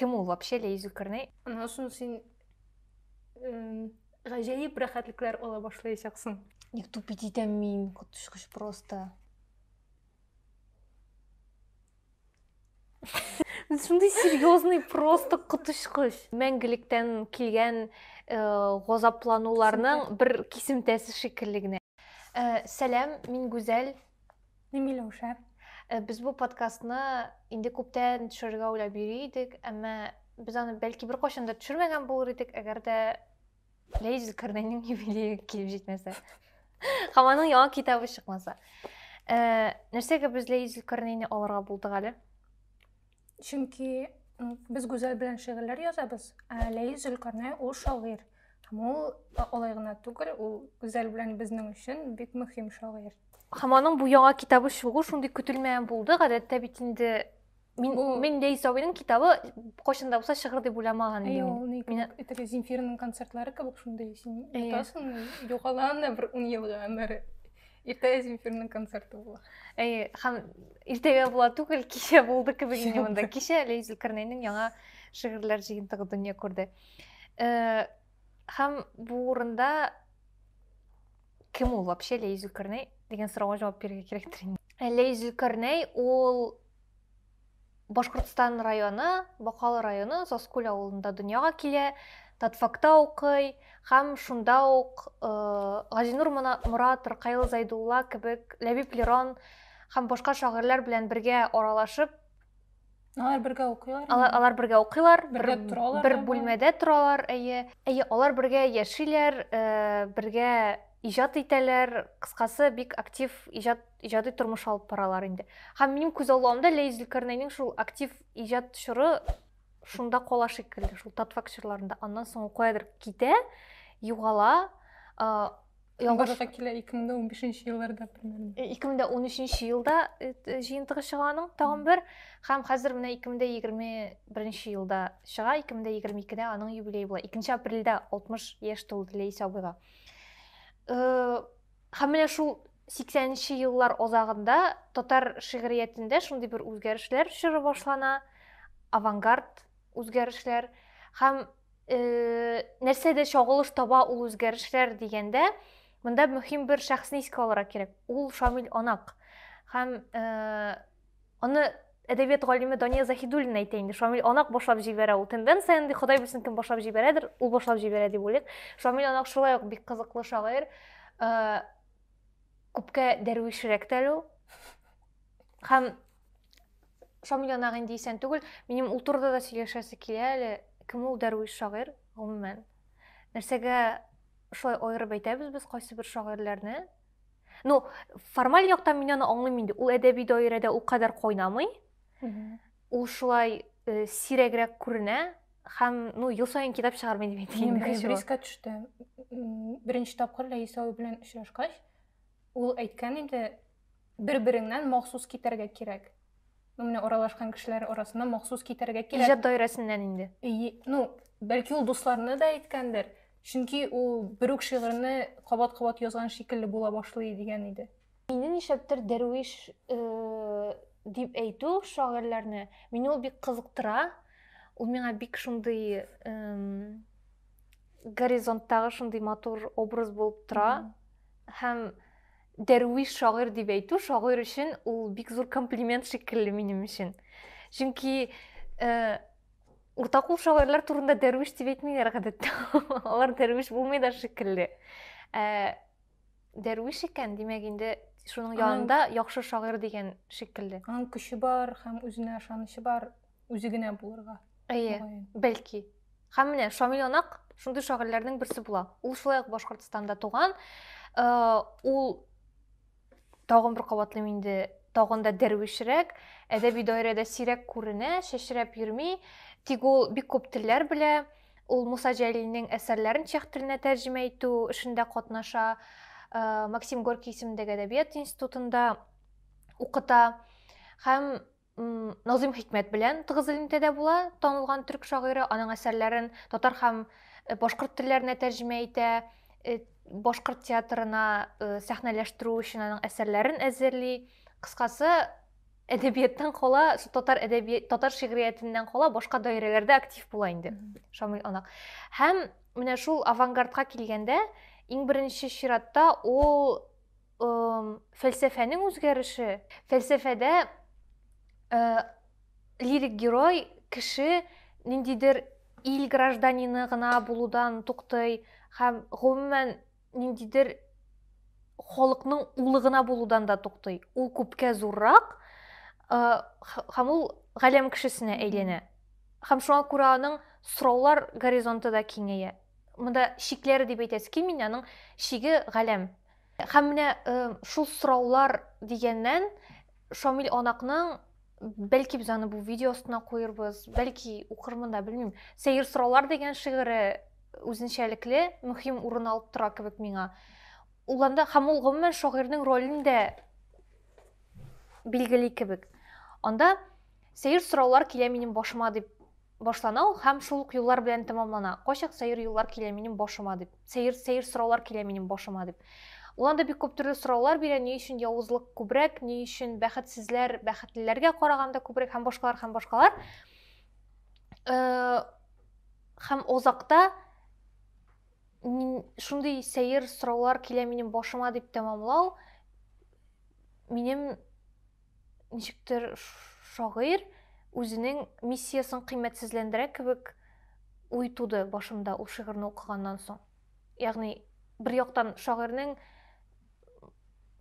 Кем ул вообще Лея Зөлкарнәй? Аннан соң син гаҗәеп рәхәтлекләр ала башлаячаксың. Ник тупить итәм мин, коточкыч просто. Шундый серьезный просто коточкыч. Мәңгелектән килгән э, газаплануларның бер кисемтәсе шикелле генә. Э, сәлам, мин Гүзәл. Ни Миләүшә? Э, без бу подкастны инде күптән төшерергә уйлап йөри идек, әмма без аны бәлки беркайчан да төшермәгән булыр идек, әгәр дә Ләйс Зөлкарнәйнең юбилее килеп җитмәсә. Һәм аның яңа китабы чыкмаса. Э, нәрсәгә без Ләйс Зөлкарнәйне алырга булдык әле? Чөнки без Гүзәл белән шигырьләр язабыз, ә Ләи Зөлкарнай ул шагыйрь. Һәм ул алай гына түгел, ул Гүзәл белән безнең өчен бик мөһим шагыйрь. Һәм аның бу яңа китабы чыгу шундый көтелмәгән булды. Гадәттә бит инде мин бу... мин Ләи Сабиның китабы кайчан да булса чыгыр дип уйламаган идем. Ул ни кебек Земфираның концертлары кебек шундый син ятасың, югалаң да бер 10 елга гомере. Иртәгә Земфирның концерты була. Әй, һәм иртәгә була түгел, кичә булды кебек инде монда. Кичә Ләй Зөлкарнәйнең яңа шигырьләр җыентыгы дөнья күрде. Э, һәм бу урында кем ул вообще Ләй Зөлкарнәй дигән сорауга җавап бирергә кирәктер инде. Ләй Зөлкарнәй ул Башкортстан районы, Бакалы районы Заскүл авылында дөньяга килә, Татфакта укый һәм шунда ук э, Газинур Морат, Ркаил Зайдулла кебек Ләбиб Лерон һәм башка шагыйрьләр белән бергә аралашып Алар бергә укыйлар. Алар, алар бергә укыйлар, бергә бер, торалар. Бер бүлмәдә торалар, әйе. Әйе, алар бергә яшиләр, э, бергә иҗат итәләр. Кыскасы, бик актив иҗат иҗади тормыш алып баралар инде һәм минем күз алуымда ләйс зөлкәрнәйнең шул актив иҗат чоры шунда кала шикелле шул татфак чорларында аннан соң ул каядыр китә югала Ялгышка килә 2015 елларда примерно. 2013 елда җыентыгы чыга аның тагын бер һәм хәзер менә 2021 елда чыга, 2022дә аның юбилее була. 2 апрельдә 60 яшь тулды Ләйсә абыйга. Һәм менә шул 80 нче еллар азагында татар шигъриятендә шундый бер үзгәрешләр чоры башлана, авангард үзгәрешләр һәм э, нәрсәдә чагылыш таба ул үзгәрешләр дигәндә, монда мөһим бер шәхесне искә алырга кирәк. Ул Шамил Анак. Һәм э, Аны әдәбият галиме Дания Заһидуллина әйтә инде. Шамил Анак башлап җибәрә ул. Тенденция инде Ходай белсен кем башлап җибәрәдер, ул башлап җибәрә дип уйлыйк. Шамил Анак шулай ук бик кызыклы шагыйрь. Э, күпкә дәрвишрәк тә әле ул. Һәм Шамил Анак инде исән түгел. Минем ул турыда да сөйләшәсе килә әле. Кем ул дәрвиш шагыйрь гомумән? Нәрсәгә шулай аерып әйтәбез без кайсы бер шагыйрьләрне? Ну, формаль яктан мин аны аңлыйм инде. Ул әдәби даирәдә ул кадәр кайнамый. Ул шулай э, сирәгрәк күренә һәм, ну, ел саен китап чыгармый дип әйтик инде. Мин близко төште. Беренче тапкыр Ләйсә абый белән очрашкач, ул әйткән инде, бер-береңнән махсус китәргә кирәк. Ну, менә аралашкан кешеләр арасына махсус китерергә кирәк. Иҗат даирәсеннән инде. Ну, бәлки ул дусларына да әйткәндер. Чөнки ул бер үк шигырьне кабат-кабат язган шикелле була башлый дигән иде. Мине нишләптер дәрвиш э, дип әйтү шагыйрьләрне, мине ул бик кызыктыра. Ул миңа бик шундый горизонттагы шундый матур образ булып тора. Һәм Дәрвиш шагыйрь дип әйтү шагыйрь өчен ул бик зур комплимент шикелле минем өчен. Чөнки э, уртакул шагыйрьләр турында дәрвиш дип әйтмиләр гадәттә. Алар дәрвиш булмый да шикелле. Э, дәрвиш икән, димәк инде шуның янында яхшы шагыйрь дигән шикелле. Аның көче бар һәм үзенә ышанычы бар. үзе генә булырга әйе бәлки һәм менә шамил анак шундый шагыйрьләрнең берсе була ул шулай ук башкортстанда туган э, ул тагын бер кабатлыйм инде тагын да дәрвишрәк әдәби даирәдә сирәк күренә чәчрәп йөрми тик ул бик күп телләр белә ул муса җәлилнең әсәрләрен чех теленә тәрҗемә итү эшендә катнаша э, максим горький исемендәге әдәбият институтында укыта һәм Назым Хикмәт белән тыгыз элемтәдә була. Танылган төрк шагыйре аның әсәрләрен татар һәм э, башкорт телләренә тәрҗемә итә, э, башкорт театрына э, сәхнәләштерү өчен аның әсәрләрен әзерли. Кыскасы, әдәбияттан кала, татар әдәби татар шигъриятеннән кала башка даирәләрдә актив була инде Шамил Анак. Һәм менә шул авангардка килгәндә, иң беренче чиратта ул фәлсәфәнең үзгәреше фәлсәфәдә лирик герой кеше ниндидер ил гражданины гына булудан туктый һәм гомумән ниндидер халыкның улы гына булудан да туктый ул күпкә зуррак һәм ул галәм кешесенә әйләнә һәм шуңа күрә аның сораулар горизонты да киңәя монда чикләре дип әйтәсе килми аның чиге галәм Һәм менә шул сораулар дигәннән Шамил Анакның бәлки без аны бу видео астына куербыз, бәлки укырмын да, белмим. Сәер сораулар дигән шигыре үзенчәлекле мөһим урын алып тора кебек миңа. Ул анда һәм ул гомумән шагыйрьнең ролен дә билгели кебек. Анда Сәер сораулар килә минем башыма дип башлана ул һәм шул ук юллар белән тәмамлана. Кайчак сәер юллар килә минем башыма дип. Сәер, сәер сораулар килә минем башыма дип. Ул анда бик күп төрле сораулар бирә, ни өчен явызлык күбрәк, ни өчен бәхетсезләр бәхетлеләргә караганда күбрәк һәм башкалар һәм башкалар. Һәм озакта шундый сәер сораулар килә минем башыма дип тәмамлау минем ничектер шагыйрь үзенең миссиясен кыйммәтсезләндерә кебек уй туды башымда ул шигырьне укыганнан соң. Ягъни бер яктан шагыйрьнең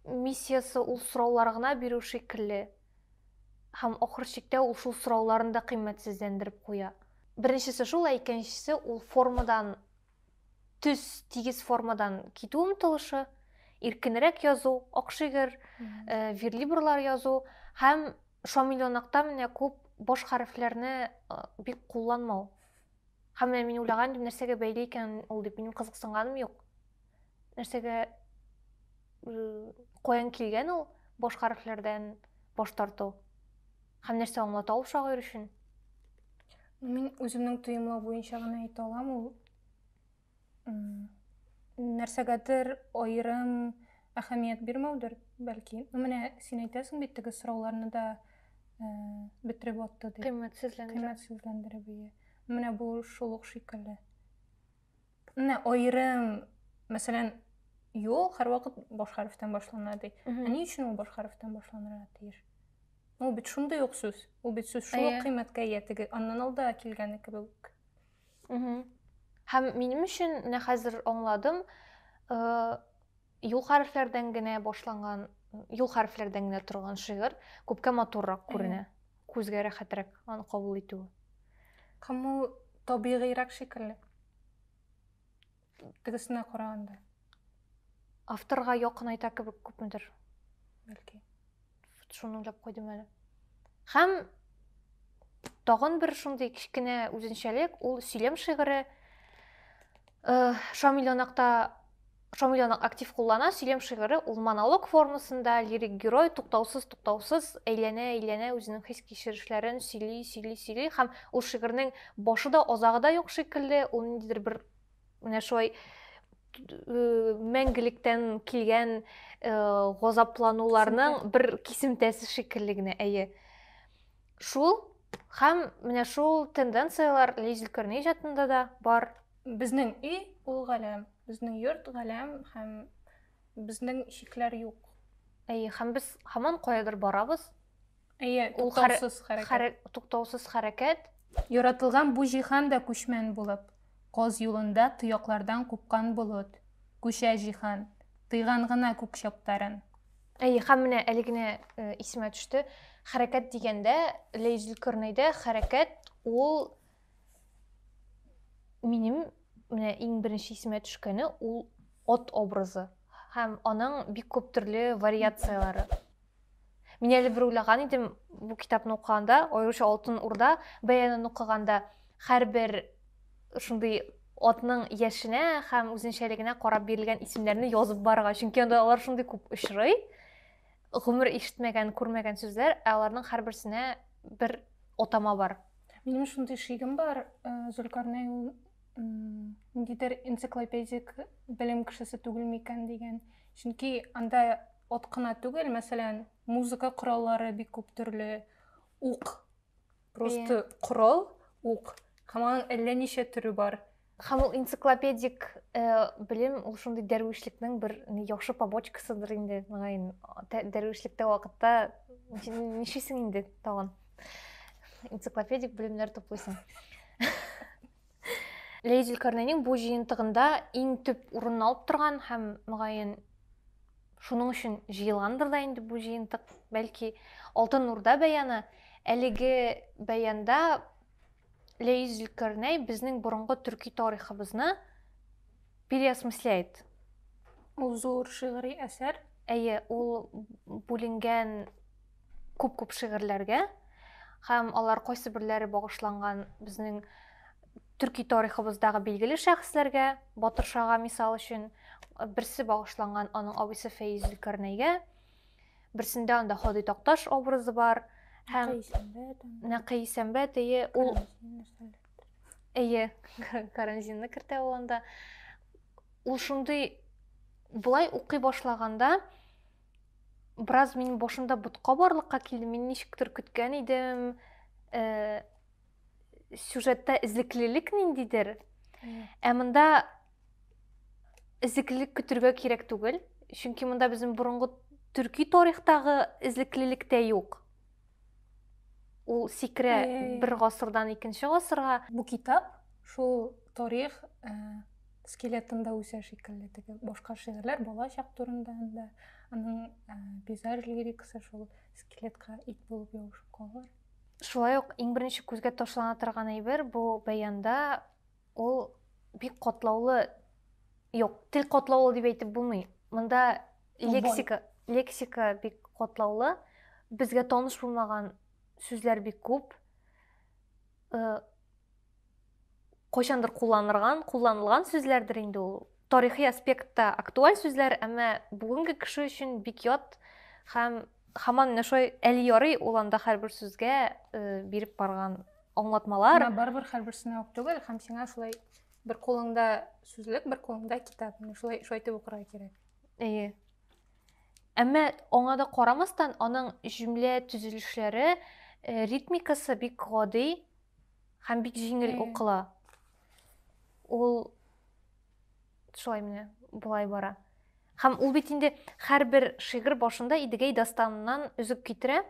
миссиясе ул сораулар гына бирү шикелле. Һәм ахыр чиктә ул шул сорауларын да кыйммәтсезләндереп куя. Беренчесе шул, ә икенчесе ул формадан төз тигез формадан китү омтылышы иркенрәк язу акшигер э, верлибрлар язу һәм шамильонакта менә күп баш хәрефләрне э, бик кулланмау һәм менә мин уйлаган идем нәрсәгә бәйле икән ул дип минем кызыксынганым юк нәрсәгә э, каян килгән ул баш хәрефләрдән баш тарту Һәм нәрсә аңлата ул шагыйрь өчен? Мин үземнең тоемлау буенча гына әйтә алам, ул нәрсәгәдер аерым әһәмият бирмәүдер, бәлки. Ну, менә син әйтәсең бит, теге сорауларны да э, бетереп атты, дип. Кыйммәтсезләндереп. Кыйммәтсезләндереп, ие. Менә бу шул ук шикелле. Менә аерым, мәсәлән, юл һәрвакыт баш хәрефтән башлана ди. Ә ни өчен ул баш хәрефтән башланырга тиеш? Ул бит шундый ук сүз. Ул бит сүз шул ук кыйммәткә ия теге аннан алда килгәне кебек. Һәм минем өчен менә хәзер аңладым, Юл хәрефләрдән генә башланган, юл хәрефләрдән генә торган шигырь күпкә матуррак күренә. Күзгә рәхәтрәк аны кабул итү. Кому табигыйрак шикелле. Тегесенә караганда. Авторга якын айта кебек күпмедер. Бәлки. шуны уйлап куйдым әле һәм тагын бер шундый кечкенә үзенчәлек ул сөйләм шигыре э, шамилянакта шамилянак актив куллана сөйләм шигыре ул монолог формасында лирик герой туктаусыз туктаусыз әйләнә әйләнә үзенең хис кичерешләрен сөйли сөйли сөйли һәм ул шигырьнең башы да азагы да юк шикелле ул ниндидер бер Менә шулай мәңгелектән килгән газаплануларның бер кисемтәсе шикелле генә, әйе. Шул һәм менә шул тенденцияләр Ләйс Зөлкарнәй иҗатында да бар. Безнең өй ул галәм, безнең йорт галәм һәм безнең шикләр юк. Әйе, һәм без һаман каядыр барабыз, Әйе, туктаусыз хәрәкәт. Туктаусыз хәрәкәт. Яратылган бу җиһан да күчмән булып, каз юлында тояклардан купкан болыт. Күчә җиһан, тыйган гына күк чаптарын. Әйе, һәм менә әле генә э, исемә төште. Хәрәкәт дигәндә, Ләйзүл Көрнәйдә хәрәкәт ул минем менә иң беренче исемә төшкәне ул от образы һәм аның бик күп төрле вариацияләре Мин әле бер уйлаган идем бу китапны укыганда, аеруча Алтын Урда бәянын укыганда, һәрбер шундый атның яшенә һәм үзенчәлегенә карап бирелгән исемнәрне язып барырга. Чөнки анда алар шундый күп очрый. Гомер ишетмәгән, күрмәгән сүзләр, ә аларның һәрберсенә бер атама бар. Минем шундый шигем бар, э, Зөлкарнәй ул ниндидер энциклопедик белем кешесе түгелме икән дигән. Чөнки анда Ат кына түгел, мәсәлән, музыка кораллары бик күп төрле, ук, просто yeah. корал, ук, һәм аның әллә ничә төре бар. Һәм ул энциклопедик э, белем, ул шундый дәрвишлекнең бер яхшы побочкасыдыр инде, мөгаен, дәрвишлектә вакытта ничисең инде тагын. Энциклопедик белемнәр туплыйсың. Ләйс Зөлкарнәйнең бу җыентыгында иң төп урынны алып торган һәм мөгаен шуның өчен җыелгандыр да инде бу җыентык, бәлки Алтын Урда бәяны. Әлеге бәянда Ләйс Зөлкарнәй безнең борынгы төрки тарихыбызны переосмысляет. Ул зур шигъри әсәр. Әйе, ул бүленгән күп-күп шигырьләргә һәм алар кайсы берләре багышланган безнең төрки тарихыбыздагы билгеле шәхесләргә, Батыр Шага мисал өчен, берсе багышланган аның абыйсы Фәиз Зөлкарнәйгә, берсендә анда Ходый Такташ образы бар һәм Нәкый Сәмбәт ие ул Әйе, каранзинны кертә ул анда. Ул шундый былай укый башлаганда Браз мин бошында бутка барлыкка килдем. Мин ничектер көткән идем, э, сюжетта эзлеклелек ниндидер. Ә монда эзлеклелек көтергә кирәк түгел. Чөнки монда безнең борынгы төрки тарихтагы эзлеклелек тә юк. Ул сикерә бер гасырдан икенче гасырга. Бу китап шул тарих э, скелетында үсә шикелле теге башка шигырьләр бала чак турында да аның э, пейзаж лирикасы шул скелетка ит булып ябышып калалар шулай ук иң беренче күзгә ташлана торган әйбер бу баянда Ул бик катлаулы, юк, тел катлаулы дип әйтеп булмый. Монда лексика, лексика бик катлаулы. Безгә таныш булмаган сүзләр бик күп. Э, кайчандыр кулланырган, кулланылган сүзләрдер инде ул. Тарихи аспектта актуаль сүзләр, әмма бүгенге кеше өчен бик ят һәм хаман менә шулай әле ярый ул анда һәрбер сүзгә э, биреп барган аңлатмалар Менә барыбер һәрберсенә үк түгел һәм сиңа шулай бер кулыңда сүзлек бер кулыңда китап менә шулай шулай итеп укырга кирәк әйе әмма аңа да карамастан аның җөмлә төзелешләре э, ритмикасы бик гади һәм бик җиңел укыла ул Шулай менә болай бара. Һәм ул бит инде һәрбер шигырь башында Идегәй дастаныннан өзек китерә.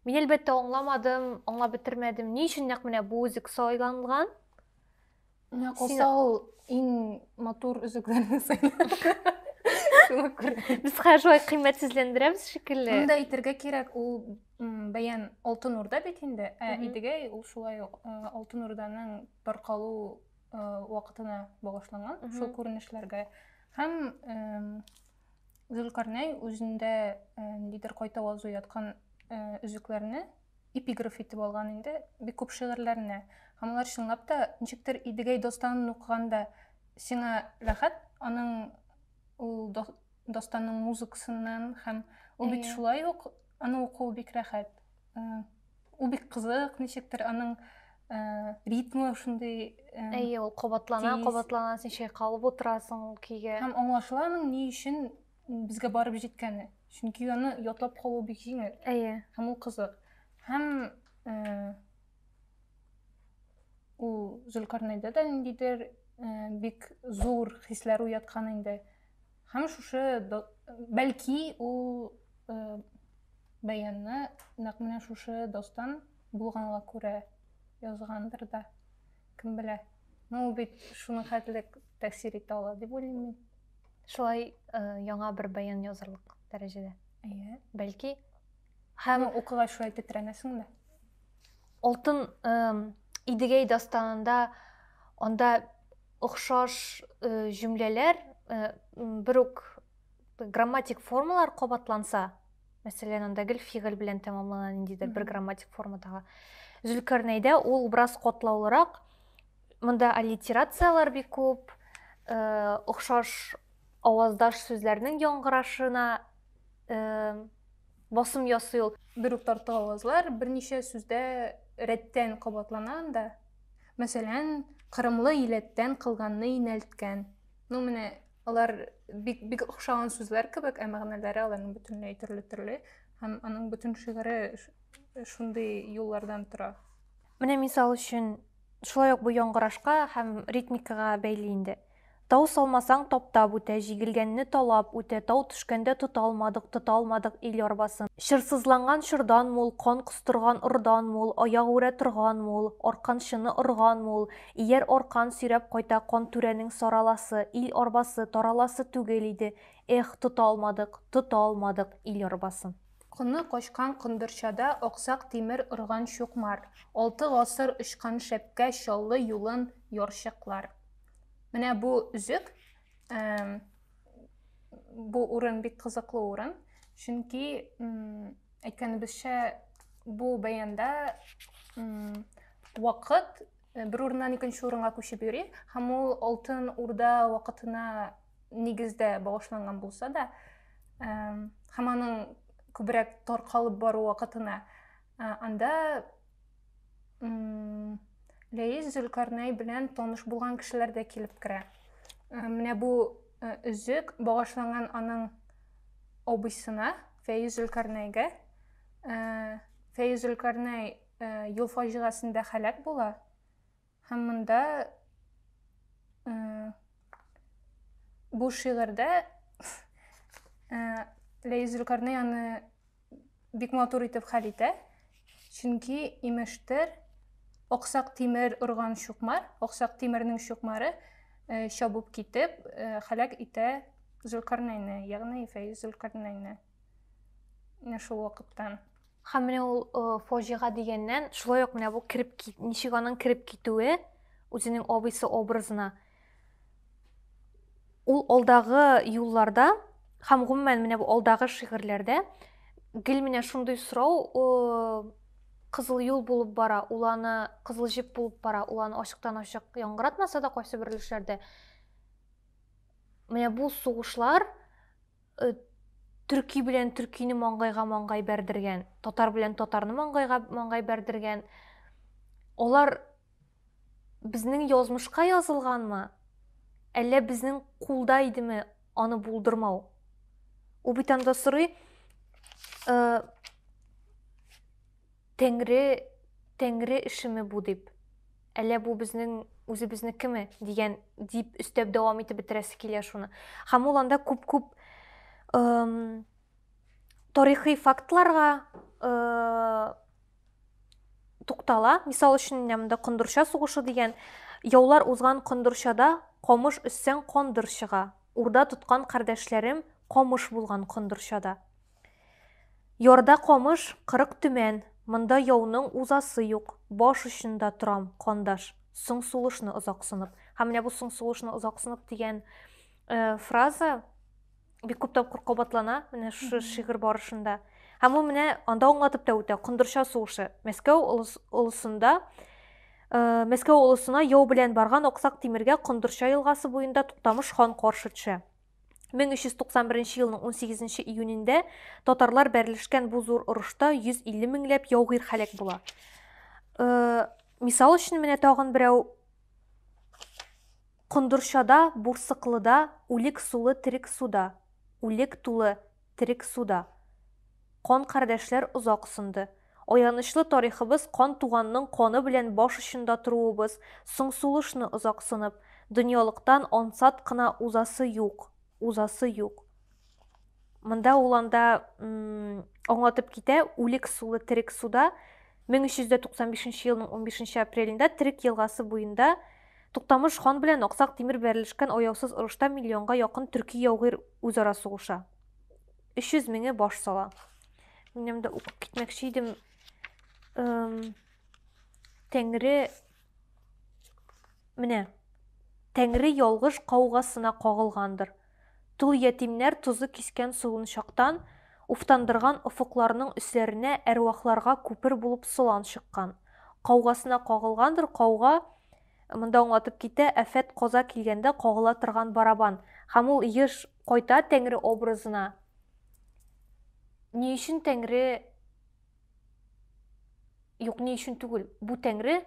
Мин әлбәттә аңламадым, аңлап бетермәдем. Ни өчен нәкъ менә бу үзек сайланган? Менә калса ул иң матур өзекләрне сайлады. Шуңа күрә. Без хәзер шулай кыйммәтсезләндерәбез шикелле. Монда әйтергә кирәк, ул бәян Алтын Урда бит инде, ә Идегәй ул шулай ук Алтын Урданың таркалу вакытына багышланган шул күренешләргә һәм зөлкарнәй үзендә ниндидер кайта вазу яткан өзекләрне эпиграф итеп алган инде бик күп шигырьләренә һәм алар чынлап та ничектер идегәй достанын укыганда сиңа рәхәт аның ул достанның музыкасыннан һәм ул бит шулай ук аны уку бик рәхәт Ул бик кызык, ничектер аның э, ритмы шундый. Э, Әйе, ул кабатлана, тиз. кабатлана, син чайкалып утырасың ул көйгә. Һәм аңлашыла аның ни өчен безгә барып җиткәне. Чөнки аны ятлап калу бик җиңел. Әйе. Һәм ул кызык. Һәм э, ул Зөлкарнайда да ниндидер э, бик зур хисләр уяткан инде. Һәм шушы бәлки ул э, бәянны нәкъ менә шушы достан булганга күрә язгандыр да. Кем белә. Ну ул бит шуның хәтлек тәэсир итә ала дип уйлыйм мин. Шулай э, яңа бер бәян язырлык дәрәҗәдә. Әйе. Бәлки һәм укыгач шулай тетрәнәсең дә. Алтын э, Идегәй дастанында анда Охшаш җөмләләр, бер үк грамматик формалар кабатланса, мәсәлән, анда гел фигыль белән тәмамлана ниндидер бер грамматик формадагы. Зөлкарнәйдә ул бераз катлаулырак. Монда аллитерацияләр бик күп, э, охшаш аваздаш сүзләрнең яңгырашына э, басым ясый ул. Бер үк тартык авазлар берничә сүздә рәттән кабатлана анда. Мәсәлән, кырымлы иләттән кылганны инәлткән. Ну, менә алар бик, бик охшаган сүзләр кебек, ә мәгънәләре аларның бөтенләй төрле-төрле. Һәм аның бөтен шигыре шундый юллардан тора. Менә мисал өчен, шулай ук бу яңгырашка һәм ритмикага бәйле инде. Тау салмасаң таптап үтә, җигелгәнне талап үтә, тау төшкәндә тота алмадык, тота алмадык ил арбасын. Чырсызланган чордан мул, кан костырган ордан мул, аяк үрә торган мул, арканчыны орган мул, ияр аркан сөйрәп кайта кан түрәнең сараласы, ил арбасы, тараласы түгел иде, эх, тота алмадык, тота алмадык ил арбасын. Коны качкан кондырчада аксак тимер орган чукмар, алты гасыр очкан шәпкә Чаллы юлын ярчыклар. Менә бу үзек, бу урын бик кызыклы урын, чөнки әйткәнебезчә бу бәянда вакыт э, бер урыннан икенче урынга күчеп йөри һәм ул алтын урда вакытына нигездә багышланган булса да һәм аның күбрәк таркалып бару вакытына э, анда Ләис Зөлкарнәй белән таныш булган кешеләр дә килеп керә. Менә бу өзек багышланган аның абыйсына, Фәйз Зөлкарнәйгә. Фәйз Зөлкарнәй юл фаҗигасендә һәлак була. Һәм монда э, бу шигырьдә э, Ләйс Зөлкарнәй аны бик матур итеп хәл итә. Чөнки имештер аксак тимер урган чукмар, аксак тимернең чукмары э, чабып китеп, э, халәк итә Зөлкарнәйне, ягъни Фәиз Зөлкарнәйне. менә шул вакыттан һәм менә ул фаҗига дигәннән шулай ук менә бу кереп ничек аның кереп китүе үзенең абыйсы образына ул алдагы юлларда һәм гомумән менә бу алдагы шигырьләрдә гел менә шундый сорау кызыл юл булып бара ул аны кызыл җеп булып бара ул аны ачыктан ачык яңгыратмаса да кайсы бер өлешләрдә менә бу сугышлар төрки белән төркине маңгайга маңгай бәрдергән, татар белән татарны маңгайга маңгай бәрдергән. Алар безнең язмышка язылганмы? Әллә безнең кулда идеме аны булдырмау? Ул бит анда сорый, э, Тәңре, Тәңре эшеме бу дип. Әллә бу безнең үзебезнекеме? дигән дип өстәп дәвам итеп бетерәсе килә шуны. Һәм ул анда күп-күп тарихи фактларга туктала. Мисал өчен, монда Кондырча сугышы дигән яулар узган Кондырчада камыш өссәң кондыр чыга. Урда тоткан кардәшләрем камыш булган Кондырчада. Ярда камыш, кырык төмән, Монда яуның узасы юк. Баш очында торам, кандаш, Соң сулышны озак сынып. Һәм менә бу соң сулышны озак сынып дигән фраза бик күп тапкыр кабатлана менә шушы шигырь барышында. Һәм ул менә анда аңлатып та үтә, Кондырча сугышы. Мәскәү олысында Э, Мәскәү олысына яу белән барган Аксак Тимергә Кондырча елгасы буенда Туктамыш хан каршы төшә. 1391 елның 18 июнендә татарлар бәрелешкән бу зур орышта 150 меңләп яугир халәк була. Э, мисал өчен менә тагын берәү Кондырчада, Бурсыклыда, Үлек сулы, Терек суда, Үлек тулы, Терек суда. Кан кардәшләр озак сынды. Аянычлы тарихыбыз кан туганның каны белән баш очында торуыбыз, соң сулышны озак сынып, дөньялыктан ансат кына узасы юк, узасы юк. Монда ул анда аңлатып китә, үлек сулы терек суда, 1395 елның 15 апрелендә Терек елгасы буенда Туктамыш хан белән Аксак Тимер бәрелешкән аяусыз орышта миллионга якын төрки яугир үзара сугыша. 300 меңе баш сала. Минем дә укып китмәкче идем. Тәңре менә Тәңре ялгыш каугасына кагылгандыр. Тол ятимнәр тозы кискән суынчактан уфтандырган офыкларның өсләренә әрвахларга күпер булып солан чыккан. Каугасына кагылгандыр кауга, монда аңлатып китә, афәт-каза килгәндә кагыла торган барабан. Һәм ул еш кайта Тәңре образына. Ни өчен Тәңре Юк, ни өчен түгел, бу Тәңре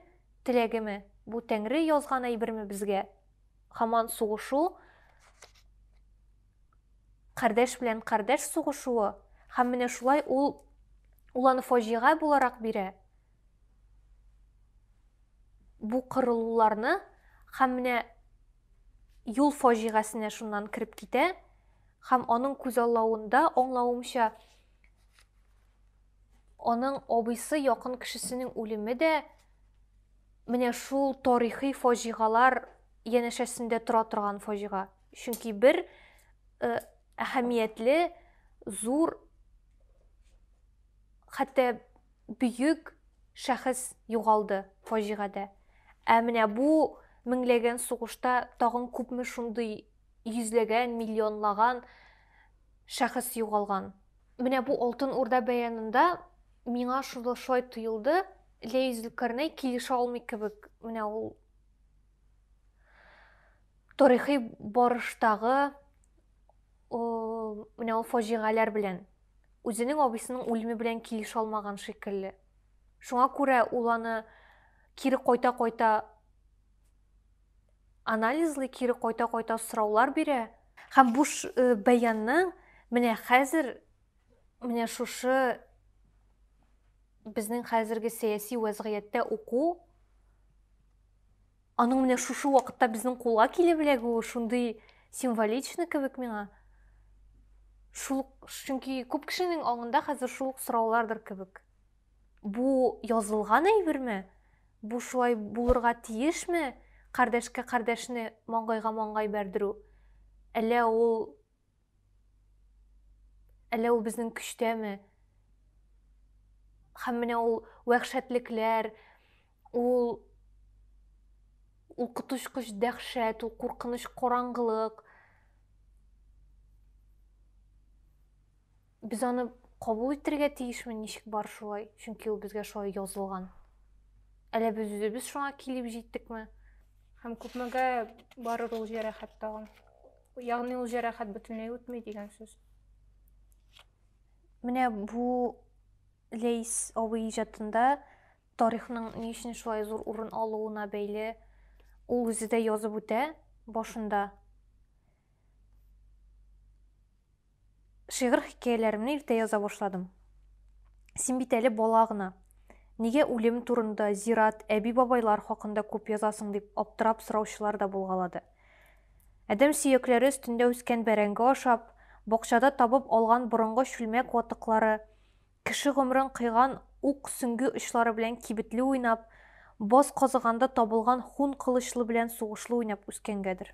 теләгеме, бу Тәңре язган әйберме безгә? Хаман сугышу, кардәш белән кардәш сугышуы, хам менә шулай ул, ул аны фаҗига буларак бирә. Бу кырылуларны, хам менә юл фаҗигасенә шуннан кереп китә, хам аның күзаллавында, аңлавымча, Аның абыйсы якын кешесенең үлеме дә менә шул тарихи фаҗигалар янәшәсендә тора торган фаҗига. Чөнки бер э, әһәмиятле, зур, хәтта бөек шәхес югалды фаҗигадә. Ә менә бу меңләгән сугышта тагын күпме шундый йөзләгән, миллионлаган шәхес югалган. Менә бу Алтын Урда бәянында миңа шул шулай тоелды. Ләй Зөлкарнәй килешә алмый кебек менә ул тарихи барыштагы менә ул фаҗигаләр белән үзенең абыйсының үлеме белән килешә алмаган шикелле шуңа күрә ул аны кире кайта-кайта анализлый, кире кайта-кайта сораулар бирә. Һәм бу э, бәянның менә хәзер менә шушы безнең хәзерге сәяси вәзгыятьтә уку аның менә шушы вакытта безнең кулга килеп эләгүе шундый символичный кебек миңа шул чөнки күп кешенең аңында хәзер шул ук сораулардыр кебек Бу язылган әйберме? Бу шулай булырга тиешме? Кардәшкә кардәшне, маңгайга маңгай бәрдерү. Әллә ул Әллә ул безнең көчтәме? Һәм менә ул вәхшәтлекләр, ул ул коточкыч дәхшәт, ул куркыныч караңгылык. Без аны кабул итәргә тиешме, ничек бар шулай? Чөнки ул безгә шулай язылган. Әле без үзебез шуңа килеп җиттекме? Һәм күпмегә барыр ул җәрәхәт тагын? Ягъни ул җәрәхәт бөтенләй үтми дигән сүз. Менә бу Лейс абый иҗатында тарихның ни өчен шулай зур урын алуына бәйле ул үзе дә язып үтә башында. Шигырь-хикәяләремне иртә яза башладым. Син бит әле бала гына. Нигә үлем турында, зират, әби-бабайлар хакында күп язасың дип аптырап сораучылар да булгалады. Адәм сөякләре өстендә үскән бәрәңге ашап, бакчада табып алган борынгы чүлмәк ватыклары, Кеше гомерен кыйган ук сөңге очлары белән кибетле уйнап, боз казыганда табылган хун кылычлы белән сугышлы уйнап үскәнгәдер.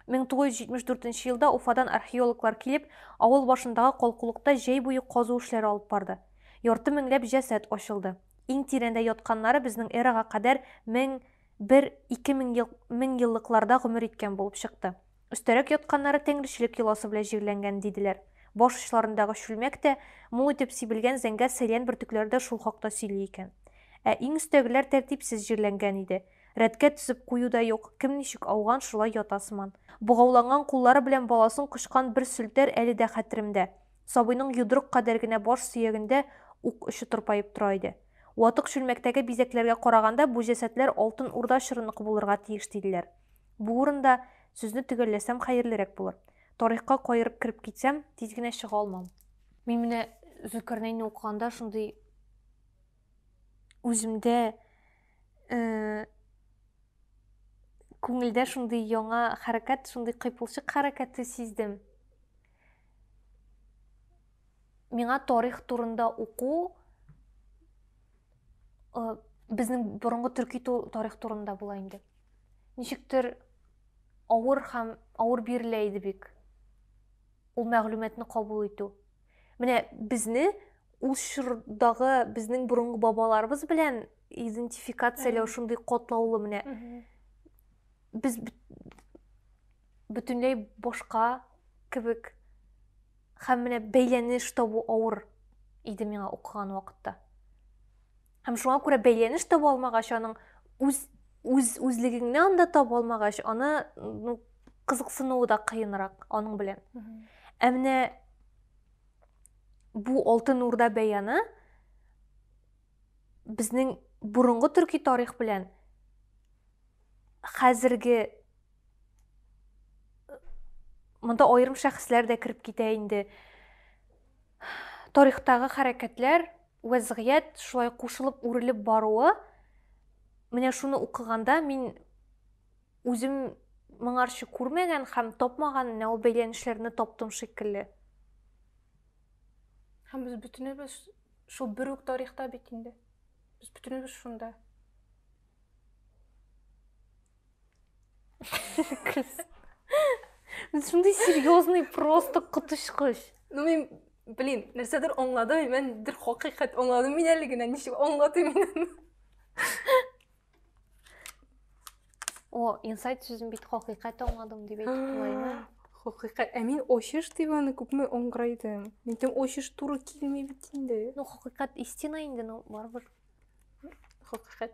1974 елда Уфадан археологлар килеп, авыл башындагы калкулыкта җәй буе казу эшләре алып барды. Ярты меңләп җәсәд ачылды. Иң тирәндә ятканнары безнең эрага кадәр мең, бер, ике мең еллыкларда гомер иткән булып чыкты. Өстәрәк ятканнары тәңречелек йоласы белән җирләнгән, диделәр. Баш очларындагы чүлмәк тә, мул итеп сибелгән зәңгәр сәйлән бөртекләре дә шул хакта сөйли икән. Ә иң өстәгеләр тәртипсез җирләнгән иде. Рәткә тезеп кую да юк, кем ничек ауган, шулай ята сыман. Богауланган куллары белән баласын кочкан бер сүлтәр әле дә хәтеремдә. Сабыйның йодрык кадәр генә баш сөягендә ук очы тырпаеп тора иде. Ватык чүлмәктәге бизәкләргә караганда, бу җәсәдләр Алтын Урда чорыныкы булырга тиеш, диделәр. Бу урында сүзне төгәлләсәм хәерлерәк булыр. Тарихка каерып кереп китсәм, тиз генә чыга алмам. Мин менә Зөлкарнәйне укыганда шундый үземдә э, күңелдә шундый яңа хәрәкәт, шундый кыйпылчык хәрәкәте сиздем. Миңа тарих турында уку безнең борынгы төрки тарих турында була инде ничектер авыр һәм авыр бирелә иде бик ул мәгълүматны кабул итү менә безне ул чордагы безнең борынгы бабаларыбыз белән идентификацияләү шундый катлаулы менә без бөтенләй башка кебек Һәм менә бәйләнеш табу авыр иде миңа укыган вакытта. Һәм шуңа күрә бәйләнеш таба алмагач, аның үз үз үзлегеңне анда таба алмагач, аны ну, кызыксынуы да кыенрак аның белән. Ә менә бу Алтын Урда бәяны безнең борынгы төрки тарих белән хәзерге Монда аерым шәхесләр дә кереп китә инде. Тарихтагы хәрәкәтләр, вәзгыять шулай кушылып, үрелеп баруы, менә шуны укыганда мин үзем моңарчы күрмәгән һәм тапмаган менә ул бәйләнешләрне таптым шикелле. Һәм без бөтенебез шул бер үк тарихта бит инде. Без бөтенебез шунда. Шундый серьезный просто котышкыч. Ну мен блин, нәрсәдер аңладым, мен дер хакыйкать аңладым мин әле генә, ничек аңладым мин. О, инсайт сүзен бит хакыйкать аңладым дип әйтеп булаймы? Хакыйкать. Ә мин очыш дип аны күпме аңгырайдым. Мин тем очыш туры килми бит инде. Ну, хакыйкать истина инде, ну, барыбер. Хакыйкать.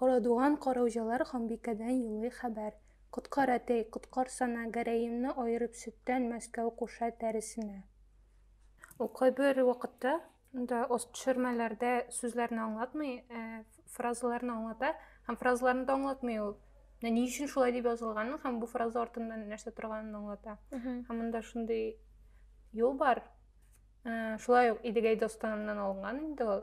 Карадуган караүҗәләр ханбикәдән юлый хәбәр. Коткар, әтәй, коткарсана, гәрәемне аерып сөттән Мәскәү куша тәресенә. Ул кайбер вакытта да ост төшермәләрдә сүзләрне аңлатмый, ә фразаларны аңлата, һәм фразаларны да аңлатмый ул. Менә ни өчен шулай дип язылганын һәм бу фраза артында нәрсә торганын аңлата. Һәм монда шундый юл бар, Ә, шулай ук Идегәй достаныннан алынган инде ул.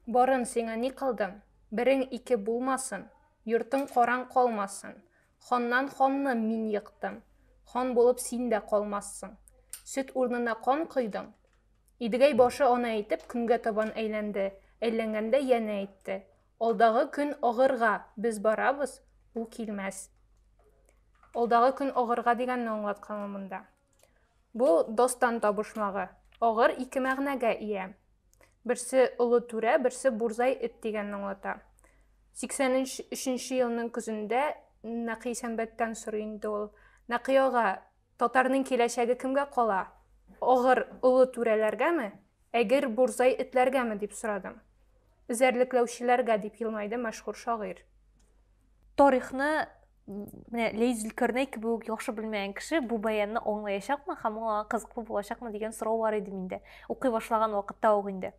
Барын сиңа ни кылдым? Берең ике булмасын, йортың караң калмасын. Ханнан ханны мин йыктым. Хан булып син дә калмассың. Сөт урнына кан койдың. Идегәй башы аны әйтеп, көнгә табан әйләнде. Әйләнгәндә янә әйтте. Алдагы көн агырга, без барабыз, ул килмәс. Алдагы көн агырга дигәнне аңлатканмы монда? Бу достан табышмагы. Агыр ике мәгънәгә ия. Берсе олы түрә, берсе бурзай эт дигәнне аңлата. 83 нче елның көзендә Нәкый Сәмбәттән сорый инде ул. Нәкый ага, Татарның киләчәге кемгә кала? Огыр олы түрәләргәме, әгер бурзай этләргәме, дип сорадым. Эзәрлекләүчеләргә, дип елмайды мәшһүр шагыйрь. Тарихны менә Ләйс Зөлкарнәй кебек үк яхшы белмәгән кеше бу баянны аңлаячакмы һәм аңа кызыклы булачакмы дигән сорау бар иде миндә. Укый башлаган вакытта ук инде.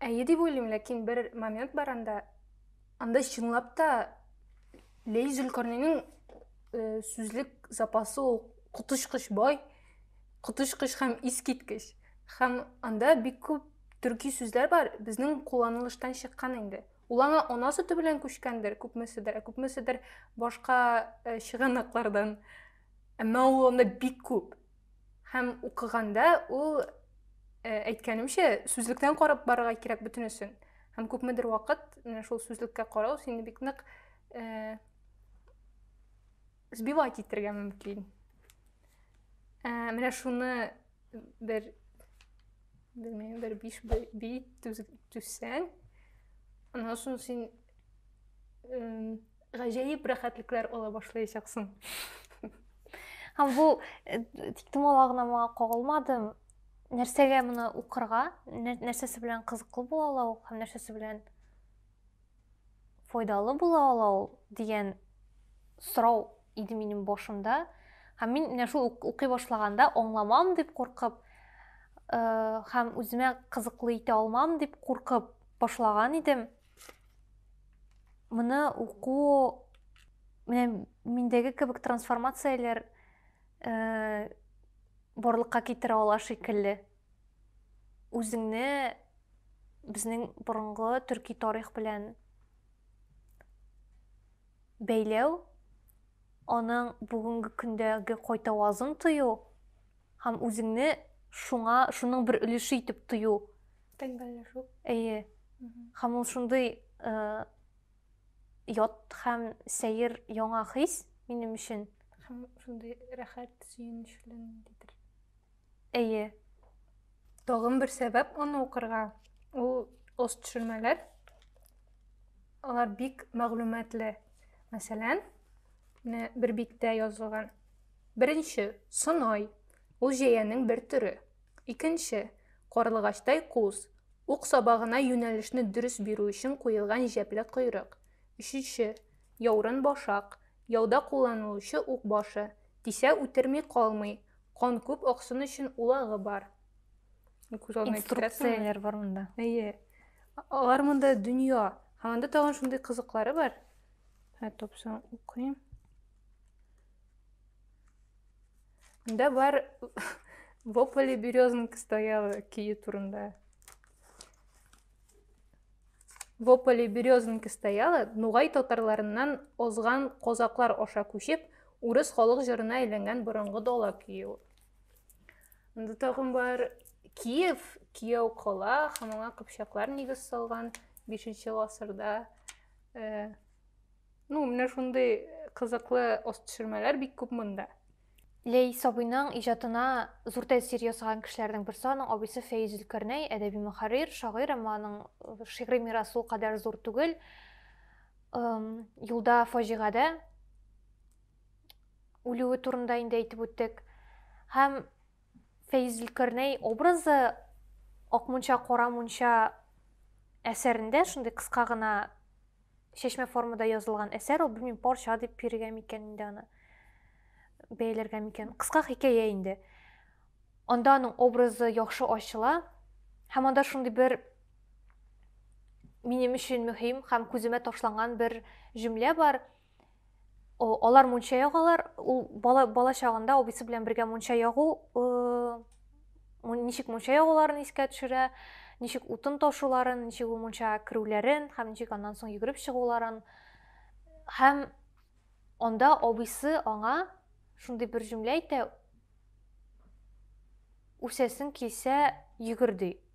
Әйе дип уйлыйм, ләкин бер момент бар анда. Анда чынлап та Ләйс Зөлкарнәйнең Э, сүзлек запасы ул коточкыч бай коточкыч һәм искиткеч һәм анда бик күп төрки сүзләр бар безнең кулланылыштан чыккан инде ул аңа ана сөте белән күчкәндер күпмеседер ә күпмеседер башка э, чыганаклардан әмма ул анда бик күп һәм укыганда ул э, әйткәнемчә сүзлектән карап барырга кирәк бөтенесен һәм күпмедер вакыт шул сүзлеккә карау сине бик нык сбивать итәргә мөмкин ә, менә шуны бер белмәйм бер биш би түзсәң аннан соң син гаҗәеп рәхәтлекләр ала башлаячаксың һәм бу э, тик томала гына моңа кагылмадым нәрсәгә моны укырга нәрсәсе белән кызыклы була ул һәм нәрсәсе белән файдалы була ала ул дигән сорау иде минем башымда һәм мин менә шул укый башлаганда аңламам дип куркып э, һәм үземә кызыклы итә алмам дип куркып башлаган идем моны уку менә миндәге кебек трансформацияләр э, барлыкка китерә ала шикелле үзеңне безнең борынгы төрки тарих белән бәйләү, аның бүгенге көндәге кайтавазын тою һәм үзеңне шуңа шуның бер өлеше итеп тою. Тәңгәлләшү. Әйе. Һәм ул шундый э, ят һәм сәер яңа хис минем өчен. Һәм шундый рәхәт, сөенечле дидер. Әйе. Тагын бер сәбәп аны укырга. Ул ост төшермәләр. Алар бик мәгълүматлы. Мәсәлән, менә бер биттә язылган. Беренче, сынай. Ул җәянең бер төре. Икенче, карлыгачтай куз. Ук сабагына юнәлешне дөрес бирү өчен куелган җәпле койрык. Өченче, яурын башак. Яуда кулланылучы ук башы. Тисә үтерми калмый. Кан күп аксын өчен улагы бар. Күз алдына Инструкцияләр бар монда. Әйе. Алар монда дөнья. Һәм анда тагын шундый кызыклары бар. Ә топсаң укыйм. Монда бар Вопле березонка стояла көе турында. В ополе березонки стояла нугай татарларыннан озган козаклар аша күчеп, урыс халык җырына әйләнгән борынгы дала көе ул. Анда тагын бар Киев, Кияу кала һәм аңа кыпчаклар нигез салган 5 гасырда. Э, ну, менә шундый кызыклы ост төшермәләр бик күп монда. Ләй Сабыйның иҗатына зур тәэсир ясаган кешеләрнең берсе аның абыйсы Фәиз Зөлкарнәй, әдәби мөхәррир, шагыйрь, әмма аның шигъри мирасы ул кадәр зур түгел. Юлда фаҗигадә үлүе турында инде әйтеп үттек. Һәм Фәиз Зөлкарнәй образы Акмунча кара мунча әсәрендә шундый кыска гына чәчмә формада язылган әсәр ул белмим парча дип бирергә микән инде аны бәяләргә микән кыска хикәя инде анда аның образы яхшы ачыла һәм анда шундый бер минем өчен мөһим һәм күземә ташланган бер җөмлә бар Алар мунча ягалар, ул бала, бала чагында абыйсы белән бергә мунча ягу, э, ничек мунча ягуларын искә төшерә, ничек утын ташуларын, ничек ул мунча керүләрен һәм ничек аннан соң йөгереп чыгуларын. Һәм анда абыйсы аңа шундый бер җөмлә әйтә, үсәсең килсә йөгер ди.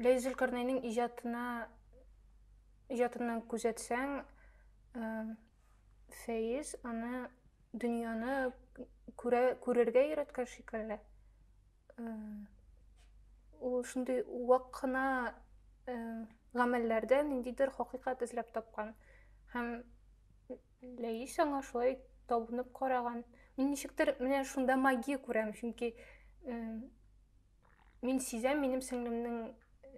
Ләй Зөлкарнәйнең иҗатына иҗатыннан күзәтсәң, Фәиз аны дөньяны күрә, күрергә өйрәткән шикелле. Ул шундый вак кына гамәлләрдә ниндидер хакыйкать эзләп тапкан. Һәм Ләис аңа шулай табынып караган. Мин ничектер менә шунда магия күрәм, чөнки Мин сизәм, минем сеңлемнең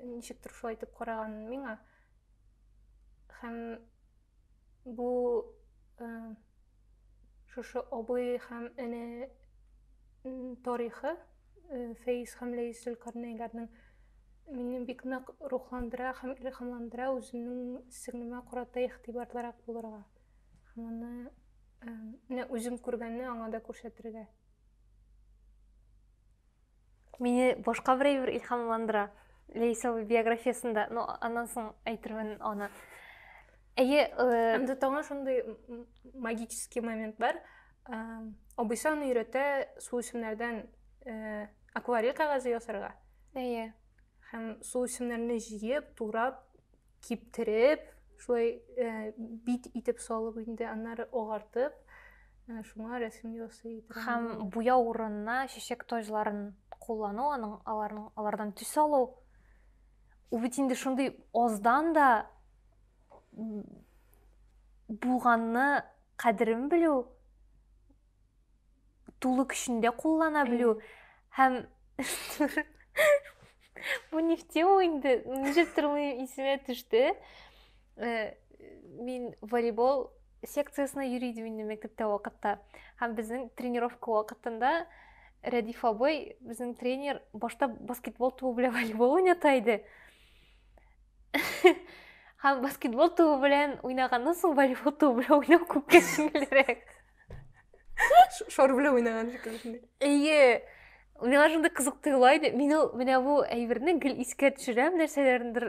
ничектер шулай итеп караганын миңа. Һәм бу э, шушы абый һәм эне тарихы э, Фәиз һәм Ләис Зөлкарнәйләрнең мине бик нык рухландыра һәм илһамландыра үземнең сеңлемә карата игътибарлырак булырга. Һәм аны э, менә үзем күргәнне аңа да күрсәтергә. Мине башка бер әйбер илһамландыра. Лейса биографиясендә, но аннан соң әйтермен аны. Әйе, э, Әмдә таңа шундый магический момент бар. Абыйсы аны өйрәтә су исемнәрдән э, акварель кәгазе ясарга. Әйе. Һәм су исемнәрне җыеп, турап, киптереп, шулай э, бит итеп салып инде, аннары агартып, э, шуңа рәсем ясый иде. Һәм буя урынына чәчәк таҗларын куллану, аның аларның алардан төс алу. Ул бит инде шундый аздан да булганны кадерен белү тулы көчендә куллана белү һәм бу нефте ул инде ничек тормыйм исемә төште э, мин волейбол секциясенә йөри идем инде мәктәптә вакытта һәм безнең тренировка вакытында рәдиф абый безнең тренер башта баскетбол тубы белән волейбол уйната иде һәм баскетбол тубы белән уйнаганнан соң волейбол тубы белән уйнау күпкә җиңелрәк шар белән уйнаган шикелле әйе миңа шундый кызык тоела иде мин ул менә бу әйберне гел искә төшерәм нәрсәләрнедер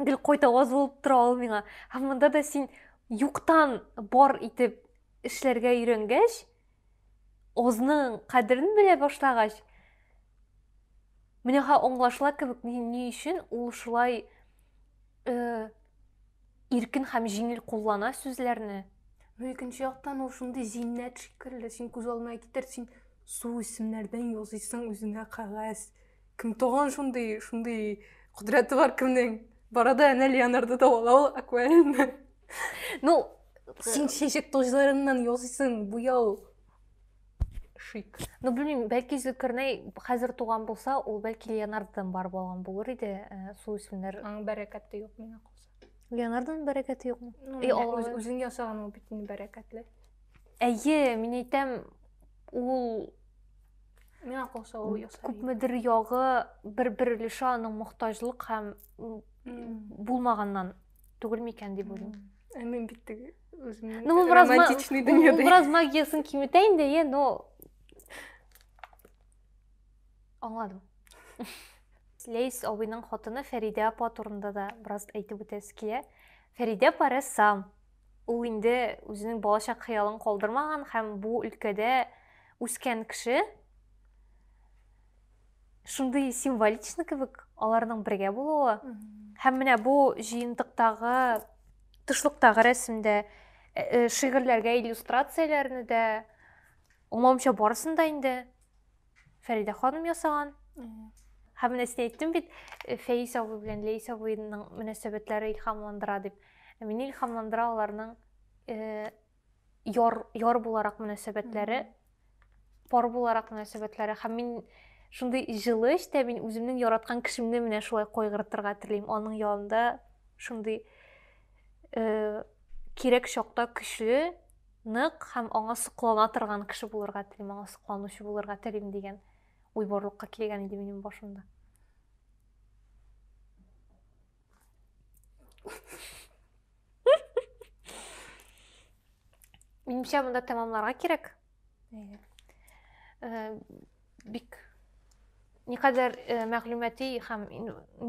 гел кайта аз булып тора ул миңа һәм монда да син юктан бар итеп эшләргә өйрәнгәч азның кадерен белә башлагач менә аңлашыла кебек ни өчен ул шулай э, иркен һәм җиңел куллана сүзләрне ну икенче яктан ул шундый зиннәт шикелле син күз алдына китер син су исемнәрдән языйсың үзеңә кәгазь кем туган шундый шундый кодрәте бар кемнең барада әнә леонардо да ала ул акварельны ну син чәчәк тозларыннан ясыйсың буяу шик ну белмим бәлки зөлкарнәй хәзер туган булса ул бәлки леонардодан бар болған булыр иде э, су үсемнәр аның бәрәкәте юк миңа калса леонардоның бәрәкәте юкмы ну, и алла үзең ясаган ул бит инде бәрәкәтле әйе мин әйтәм ул миңа калса ул ясар күпмедер ягы бер бер өлеше аның мохтаҗлык һәм булмаганнан түгел микән дип уйлыйм ә мин бит теге Үземнең ну, бераз романтичный дөньяда. Ул бераз магиясын киметә инде, е, но Аңладым. Лейс абыйның хатыны Фәридә апа турында да бераз әйтеп үтәсе килә. Фәридә апа рәссам. Ул инде үзенең балачак хыялын калдырмаган һәм бу өлкәдә үскән кеше. шундый символично кебек аларның бергә булуы һәм менә бу җыентыктагы тышлыктагы рәсемдә э, э, шигырьләргә иллюстрацияләрне дә умамча барысын да инде фәридә ханым ясаган һәм менә син әйттең бит э, фәис абый белән ләис абыйның мөнәсәбәтләре илһамландыра дип мени илһамландыра аларның яр, яр буларак мөнәсәбәтләре, пар буларак мөнәсәбәтләре һәм мин шундый җылы эчтә мин үземнең яраткан кешемне менә шулай кайгыртырга телим. Аның янында шундый э, кирәк чакта көчле, нык һәм аңа соклана торган кеше булырга телим, аңа сокланучы булырга телим дигән уй барлыкка килгән иде минем башымда. Минемчә монда тәмамларга кирәк. Э, бик никадәр э, мәгълүмати һәм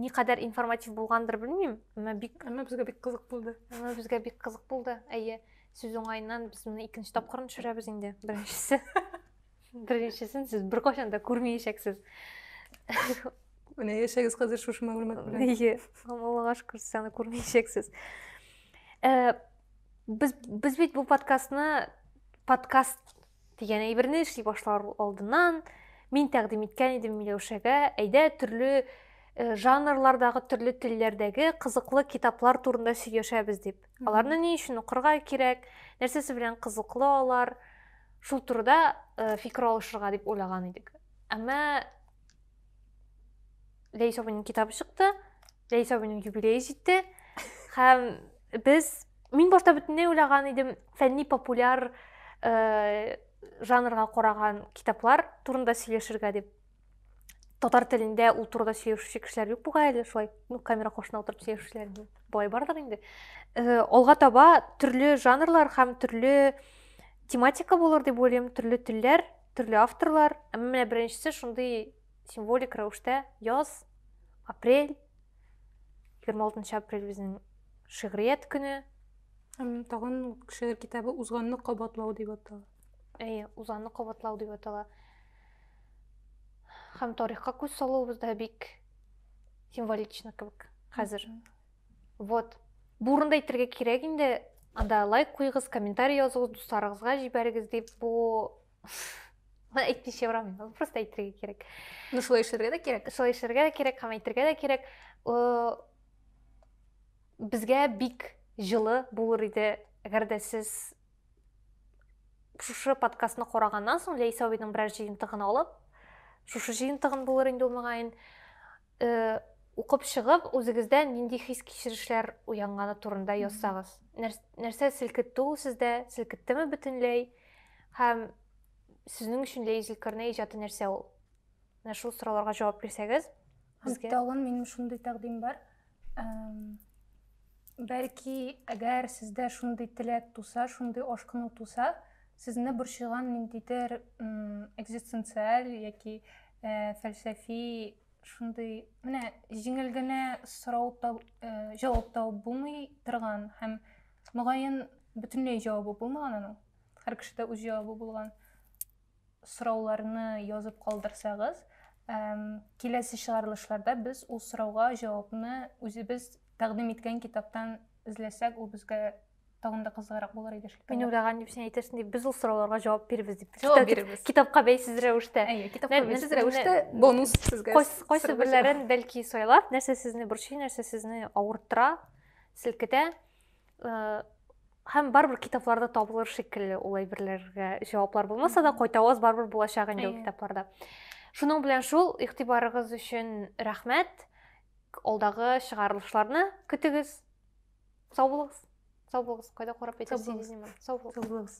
никадәр информатив булгандыр белмим, әмма бик әмма безгә бик кызык булды. Әмма безгә бик кызык булды. Әйе, сүз уңаеннан без моны икенче тапкырын төшерәбез инде. Беренчесе. Беренчесен сез беркайчан да күрмәячәксез. Менә яшәгез хәзер шушы мәгълүмат белән. Ие, Аллага шөкер, сез аны күрмәячәксез. Э, без без бит бу подкастны подкаст дигән әйберне эшли башлар алдыннан мин тәкъдим иткән идем Миләүшәгә, әйдә төрле э, жанрлардагы төрле телләрдәге кызыклы китаплар турында сөйләшәбез дип. Аларны ни өчен укырга кирәк? Нәрсәсе белән кызыклы алар? шул турыда э, фикер алышырга дип уйлаган идек әмма ләйс абыйның китабы чыкты ләйс абыйның юбилее җитте һәм без мин башта бөтенләй уйлаган идем фәнни популяр э, жанрга караган китаплар турында сөйләшергә дип татар телендә ул турыда сөйләшүче кешеләр юк бугай әле шулай ну камера каршына утырып сөйләшүчеләр болай бардыр инде э, алга таба төрле жанрлар һәм төрле тематика булыр дип уйлыйм төрле телләр төрле авторлар әмма менә беренчесе шундый символик рәвештә яз апрель егерме алтынчы апрель безнең шигърият көне тагын шигырь китабы узганны кабатлау дип атала әйе узганны кабатлау дип атала һәм тарихка күз салуыбыз да бик символично кебек хәзер вот бурында әйтергә кирәк инде анда лайк куйгыз, комментарий языгыз дусларыгызга җибәрегез дип бу әйтмичә барам мин просто әйтергә кирәк ну шулай эшләргә дә кирәк шулай эшләргә дә кирәк һәм әйтергә дә кирәк э, безгә бик жылы булыр иде әгәр дә сез шушы подкастны караганнан соң ләйсә абыйның берәр җыентыгын алып шушы җыентыгын булыр инде ул мөгаен э, укып чыгып үзегездә нинди хис кичерешләр уянганы турында язсагыз нәрсә селкетте ул сездә селкеттеме бөтенләй һәм сезнең өчен ләйзелкерне иҗаты нәрсә ул менә шул сорауларга җавап бирсәгез Безгә тагын минем шундый тәкъдим бар. Бәлки, әгәр сездә шундый теләк туса, шундый ашкыну туса, сезне борчыган ниндидер экзистенциаль яки э, фәлсәфи шундый менә җиңел генә сорау таб, э, җавап табып булмый торган һәм мөгаен бөтенләй җавабы булмаган аның. Һәр кешедә үз җавабы булган. сорауларны язып калдырсагыз, киләсе чыгарылышларда без ул сорауга җавапны үзебез тәкъдим иткән китаптан эзләсәк, ул безгә тагын да кызыграк булыр иде шикелле. Мин уйлаган дип син әйтерсең дип, без ул сорауларга җавап бирбез дип. Җавап бирбез. Китапка бәйсез рәвештә. Әйе, китапка бәйсез рәвештә бонус сезгә. Кайсы берләрен бәлки сайлап, нәрсә сезне борчый, нәрсә сезне авырттыра, селкетә. һәм барыбер китапларда табылыр шикелле ул әйберләргә җаваплар булмаса да кайтаваз барыбер булачак инде ул китапларда шуның белән шул игътибарыгыз өчен рәхмәт алдагы чыгарылышларны көтегез сау булыгыз сау булыгыз кайда карап әйтәсез сау булыгыз